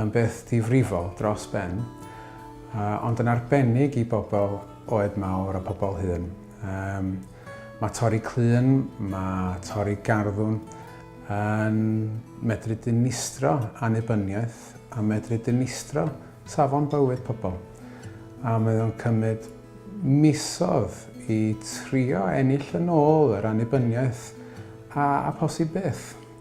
yn beth difrifol dros ben, ond yn arbennig i bobl oed mawr a pobl hŷn. Um, mae torri clun, mae torri garddwn yn medru dinistro annibyniaeth a medru dinistro safon bywyd pobl. A mae o'n cymryd misodd i trio ennill yn ôl yr annibyniaeth a, a posib beth.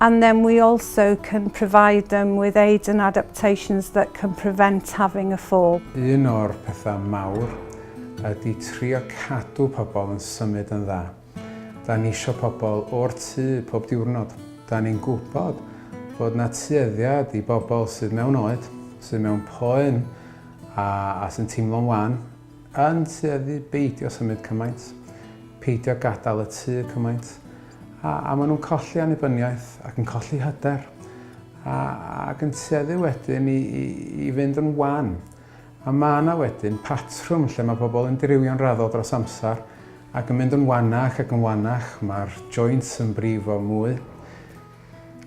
And then we also can provide them with aids and adaptations that can prevent having a fall. Un o'r pethau mawr ydy trio cadw pobl yn symud yn dda. Da ni isio pobl o'r tŷ pob diwrnod. Da ni'n gwybod bod na tueddiad i bobl sydd mewn oed, sydd mewn poen a, a sy'n teimlo'n wan, Yn tueddu beidio symud cymaint, peidio gadael y tŷ cymaint, a, a maen nhw'n colli annibyniaeth ac yn colli hyder, a, ac yn tueddu wedyn i, i, i fynd yn wan. A mae yna wedyn patrwm lle mae pobl yn dirywio'n raddol dros amser ac yn mynd yn wanach ac yn wanach, mae'r joints yn brifo mwy.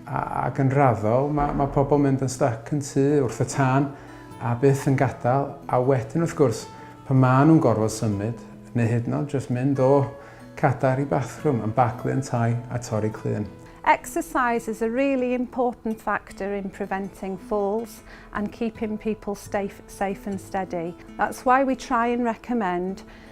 Ac yn raddol, mae, mae pobl mynd yn styc yn tŷ, wrth y tân, a byth yn gadael, a wedyn wrth gwrs, pan maen nhw'n gorfod symud, neu hyd yn oed jyst mynd o cadair i bathrwm, yn baglu yntau a torri clun. Exercise is a really important factor in preventing falls and keeping people safe and steady. That's why we try and recommend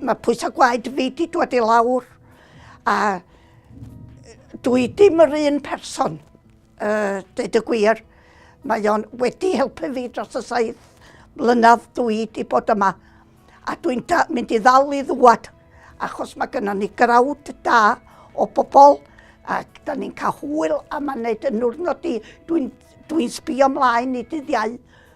Mae pwysau gwaed fi wedi dod i lawr a dwi dim yr un person, uh, dweud y gwir. Mae o'n wedi helpu fi dros y saith mlynedd dwi wedi bod yma. A dwi'n mynd i ddal i ddwad, achos mae gennym ni grawd da o bobl, ac da ni'n cael hwyl am yn neud yn wrnod i. Dwi'n dwi sbio ymlaen i dyddiau